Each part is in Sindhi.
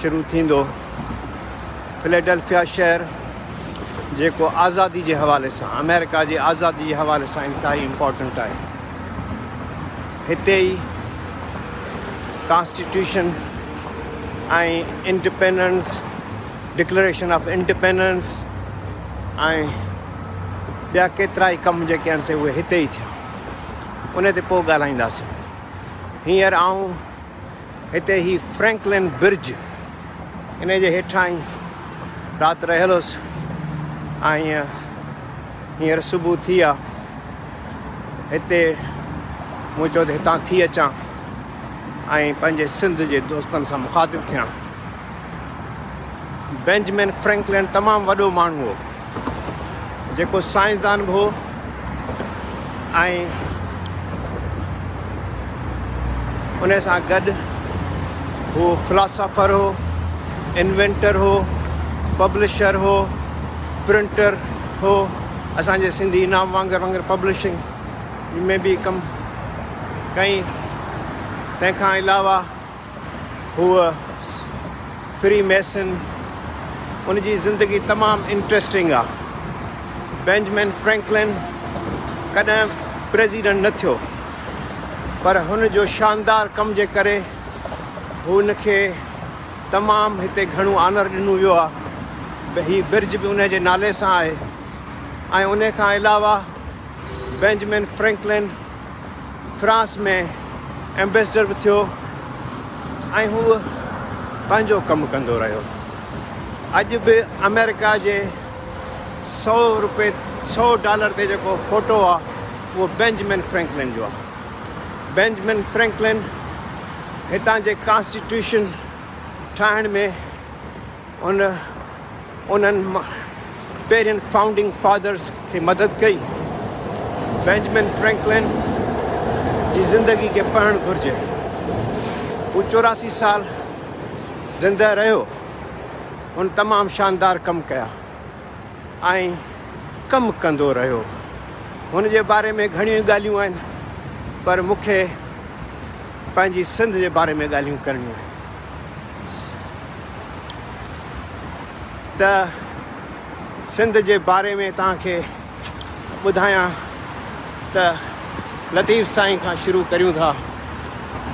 شروع ٿيندو. فليڊلفيا شهر جيڪو آزادي جي حوالي سان آمريڪا جي آزادي جي حوالي سان انتهائي امپارٽنٽ آهي. هتي ئي constitution ۽ independence declaration of independence ۽ ٻيا ڪيترائي ڪم جيڪي آهن سي اهي هتي ئي ٿيا. ان تي پوء ڳالهائينداسين. هينئر آئون هتي هي فرينڪلن برج ان جي هيٺان ئي رات رهيل هوس ۽ هينئر صبح ٿي آ هتي مون چيو ته هتان ٿي اچان ۽ پنهنجي سنڌ جي دوستن سان مخاطب ٿيان بينجمن فرينڪلن تمام وڏو ماڻهو هو جيڪو سائنسدان به هو ۽ ان سان گڏ هو فلاسافر هو انوينٽر هو پبلشر هو پرنٽر هو اسانجي سنڌي انعام وانگر وانگر پبلشنگ ۾ به ڪم ڪئي تنهن کان علاوه هوء فري ميسن، ان جي زندگي تمام انٽريسٽنگ آ. بينجمن فرينڪلن ڪڏهن پريزيڊنٽ نه ٿيو پر هن جو شاندار ڪم جي ڪري هن کي تمام هتي گهڻو آنر ڏنو ويو آ. هي برج به ان جي نالي سان آهي ۽ ان کان علاوه بينجمن فرينڪلن فرانس ۾ ايمبيسڊر به ٿيو ۽ هو پنهنجو ڪم ڪندو رهيو. اڄ به آمريڪا جي سؤ روپي سؤ ڊالر تي جيڪو فوٽو آهي اهو بينجمن فرينڪلن جو آهي. بينجمن فرينڪلن هتان جي ڪانسٽيٽيوشن ٺاهڻ ۾ هن انهن پهرين فائونڊنگ فادرز کي مدد ڪئي. بينجمن فرينڪلن جي زندگي کي پڙهڻ گهرجي. هو چوراسي سال زندهه رهيو. هن تمام شاندار ڪم ڪيا ۽ ڪم ڪندو رهيو. هن جي باري ۾ گهڻيون ئي ڳالهيون آهن پر مون کي پنهنجي سنڌ جي باري ۾ ڳالهيون ڪرڻيون آهن. ته سنڌ جي باري ۾ توهان کي ٻڌايان ته لطيف سائين کان شروع ڪريون ٿا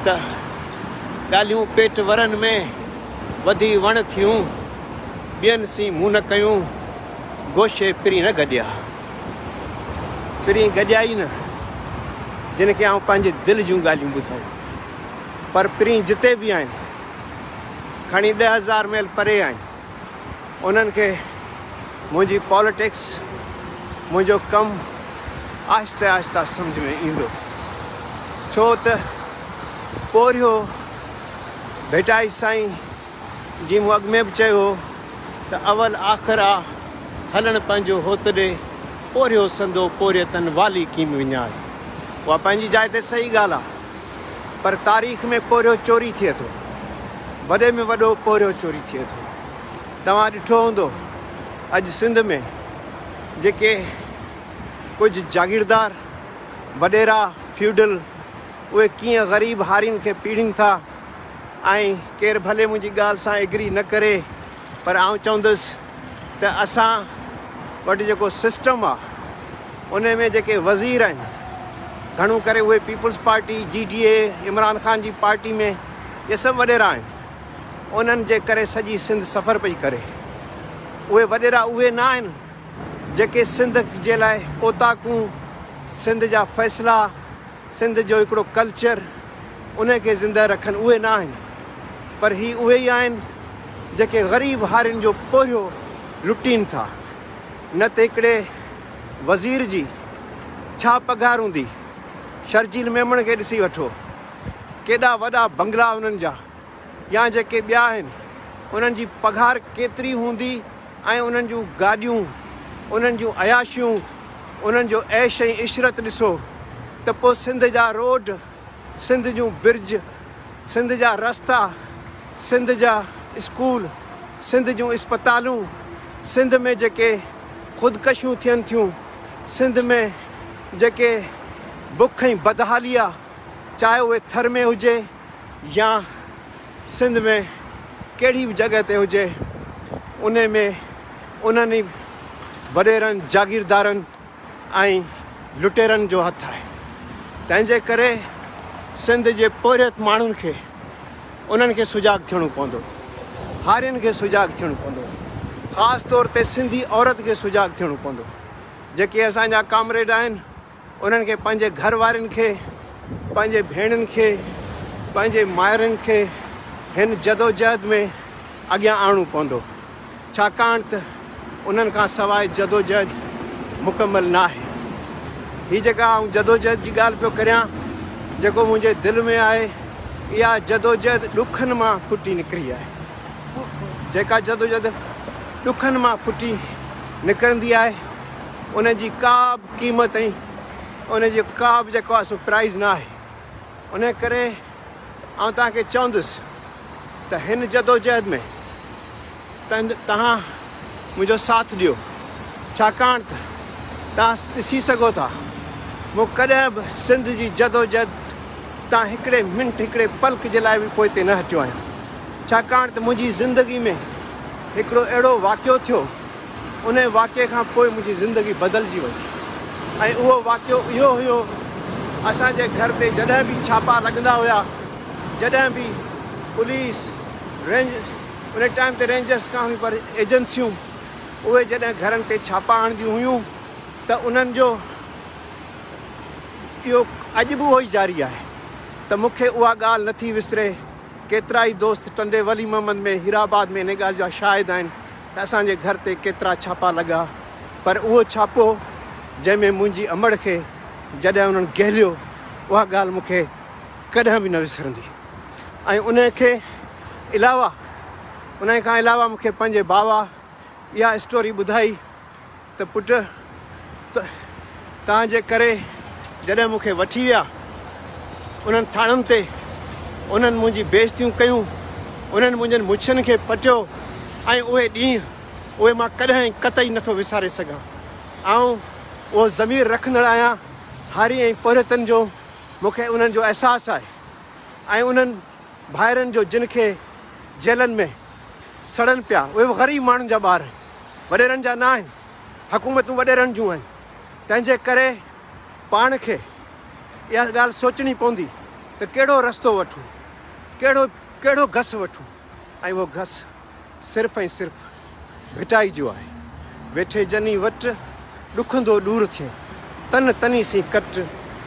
ته ڳالهيون پيٽ ورن ۾ وڌي وڻ ٿيون ٻين سين مون نه ڪيون گوشي پرين نه گڏيا پرين گڏيا ئي نه جن کي آئون پنهنجي دل جون ڳالهيون ٻڌايون پر پرين جتي به آهن، کڻي ڏهه هزار ميل پري آهن، انهن کي منهنجي پاليٽڪس، منهنجو ڪم آهستي آهستي سمجهه ۾ ايندو. ڇو ته پورهيو ڀٽائي سائين، جيئن مون اڳ ۾ به چيو هو ته اول آخر آ هلڻ پنهنجو هوت ڏي، پورهيو سندو پورهيتن والي ڪيم وڃاء. اها پنهنجي جاء تي صحيح ڳالهه آ، پر تاريخ ۾ پورهيو چوري ٿئي ٿو، وڏي ۾ وڏو پورهيو چوري ٿئي ٿو. توهان ڏٺو هوندو اڄ سنڌ ۾ جيڪي ڪجهه جاگيردار، وڏيرا، فيوڊل، اهي ڪيئن غريب هارين کي پيڙهين ٿا. ۽ ڪير ڀلي منهنجي ڳالهه سان ايگري نه ڪري پر آئون چوندس ته اسان وٽ جيڪو سسٽم آ ان ۾ جيڪي وزير آهن گهڻو ڪري اهي peoples party G D A Imran Khan جي پارٽي ۾ اهي سڀ وڏيرا آهن انهن جي ڪري سڄي سنڌ سفر پئي ڪري اهي وڏيرا اهي نه آهن جيڪي سنڌ جي لاء اوطاقون سنڌ جا فيصلا سنڌ جو هڪڙو ڪلچر ان کي زنده رکن اهي نه آهن پر هي اهي ئي آهن جيڪي غريب هارين جو پورهيو لٽين ٿا نه ته هڪڙي وزير جي ڇا پگهار هوندي شرجيل ميمڻ کي ڏسي وٺو ڪيڏا وڏا بنگلا انهن جا. يا جيڪي ٻيا آهن انهن جي پگهار ڪيتري هوندي ۽ انهن جون گاڏيون انهن جون عياشيون انهن جو عيش ۽ عشرت ڏسو ته پوء سنڌ جا روڊ سنڌ جون برج سنڌ جا رستا سنڌ جا اسڪول سنڌ جون اسپتالون سنڌ ۾ جيڪي خودڪشيون ٿين ٿيون سنڌ ۾ جيڪي بک ۽ بدحاليا چاهي اهي ٿر ۾ هجي يا سنڌ ۾ ڪهڙي به جڳهه تي هجي ان ۾ انهن ئي وڏيرن جاگيردارن ۽ لٽيرن جو هٿ آهي تنهن جي ڪري سنڌ جي پورهيت ماڻهن کي انهن کي سجاڳ ٿيڻو پوندو هارين کي سجاڳ ٿيڻو پوندو خاص طور تي سنڌي عورت کي سجاڳ ٿيڻو پوندو جيڪي اسان جا ڪامريڊ آهن انهن کي پنهنجي گهر وارين کي، پنهنجي ڀيڻين کي، پنهنجي مائرن کي هن جدوجهد ۾ اڳيان آڻڻو پوندو، ڇاڪاڻ ته انهن کان سواء جدوجهد مڪمل ناهي. هي جيڪا آئون جدوجهد جي ڳالهه پيو ڪريان، جيڪو منهنجي دل ۾ آهي، اها جدوجهد ڏکن مان ڦٽي نڪري آهي. جيڪا جدوجهد ڏکن مان ڦٽي نڪرندي آهي، ان جي ڪا به قيمت ۽ ان جو ڪا به جيڪو آهي سو پرائز نه آهي انهي ڪري آئون توهان کي چوندس ته هن جدوجهد ۾ توهان منهنجو ساٿ ڏيو ڇاڪاڻ ته توهان ڏسي سگهو ٿا مون ڪڏهن به سنڌ جي جدوجهد تان هڪڙي منٽ هڪڙي پلڪ جي لاء به پوئتي نه هٽيو آهيان ڇاڪاڻ ته منهنجي زندگي ۾ هڪڙو اهڙو واقعو ٿيو انهيء واقعي کان پوء منهنجي زندگي بدلجي وئي ۽ اهو واقعو اهو هيو اسان جي گهر تي جڏهن به ڇاپا لڳندا هيا جڏهن به پوليس رينج انهي ٽائيم تي رينجرس ڪانه هيون پر ايجنسيون اهي جڏهن گهرن تي ڇاپا هڻنديون هيون ته انهن جو اهو اڄ به اهو ئي جاري آهي ته مون کي اها ڳالهه نٿي وسري ڪيترائي دوست ٽنڊي ولي محمد ۾ هيرآباد ۾ انهي ڳالهه جا شاهد آهن ته اسان جي گهر تي ڪيترا ڇاپا لڳا پر اهو ڇاپو جنهن ۾ منهنجي امڙ کي جڏهن انهن گهليو اها ڳالهه مون کي ڪڏهن به نه وسرندي ۽ انهي کي علاوه انهي کان علاوه مون کي پنهنجي باوا اها اسٽوري ٻڌائي ته پٽ، توهان جي ڪري جڏهن مون کي وٺي ويا، انهن ٿاڻن تي انهن منهنجي بي عزتيون ڪيون، انهن منهنجن مڇين کي پٽيو ۽ اهي ڏينهن، اهي مان ڪڏهن ۽ قطعي نٿو وساري سگهان. آئون اهو ضمير رکندڙ آهيان، هاري ۽ پورهيتن جو، مون کي انهن جو احساس آهي ۽ انهن ڀائرن جو جن کي جيلن ۾ سڙن پيا، اهي به غريب ماڻهن جا ٻار، وڏيرن جا نه آهن، حڪومتون وڏيرن جون آهن، تنهن جي ڪري پاڻ کي اها ڳالهه سوچڻي پوندي ته ڪهڙو رستو وٺون، ڪهڙو ڪهڙو گس وٺون ۽ اهو گس صرف ۽ صرف ڀٽائي جو آهي، ويٺي جني وٽ. ڏکندو ڏور ٿئين تن تني سين ڪٽ،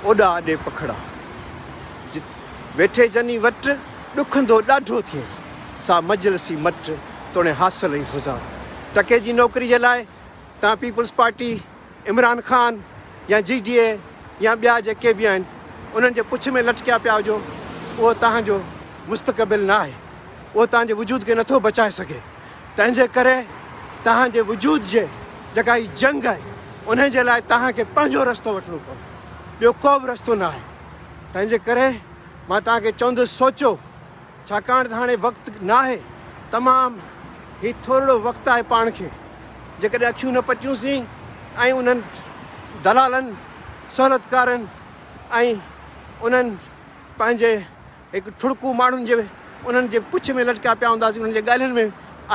اوڏا اڏي پکڙا. جت ويٺي جني وٽ، ڏکندو ڏاڍو ٿئين سا مجلسي مٽ، توڻي حاصل اي هزار ٽڪي جي نوڪري جي لاء تان پيپلز پارٽي، عمران خان يا جي ڊي اي يا ٻيا جيڪي به آهن انهن جي پڇ ۾ لٽڪيا پيا هجو اهو تهان جو مستقبل ناهي اهو تهان جي وجود کي نٿو بچائي سگهي. تنهنجي ڪري توهان جي وجود جي جيڪا هي جنگ آهي انهي جي لاء توهان کي پنهنجو رستو وٺڻو پوندو ٻيو ڪو به رستو نه آهي تنهنجي ڪري مان توهان کي چوندس سوچو ڇاڪاڻ ته هاڻي وقت ناهي تمام هي ٿورڙو وقت آهي پاڻ کي جيڪڏهن اکيون نه پٽيون سين ۽ انهن دلالن سهولتڪارن ۽ انهن پنهنجي هڪ ٺڙڪو ماڻهن جي انهن جي پڇ ۾ لٽڪيا پيا هونداسين، انهن جي ڳالهين ۾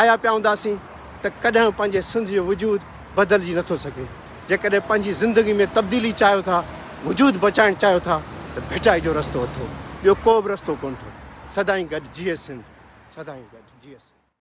آيا پيا هونداسين ته ڪڏهن پنهنجي سنڌ جو وجود بدلجي نٿو سگهي. جيڪڏهن پنهنجي زندگي ۾ تبديلي چاهيو ٿا، وجود بچائڻ چاهيو ٿا ته ڀٽائي جو رستو اٿو، ٻيو ڪو به رستو ڪونه اٿو. سدائين گڏ جيئي سنڌ، سدائين گڏ جيئي سنڌ.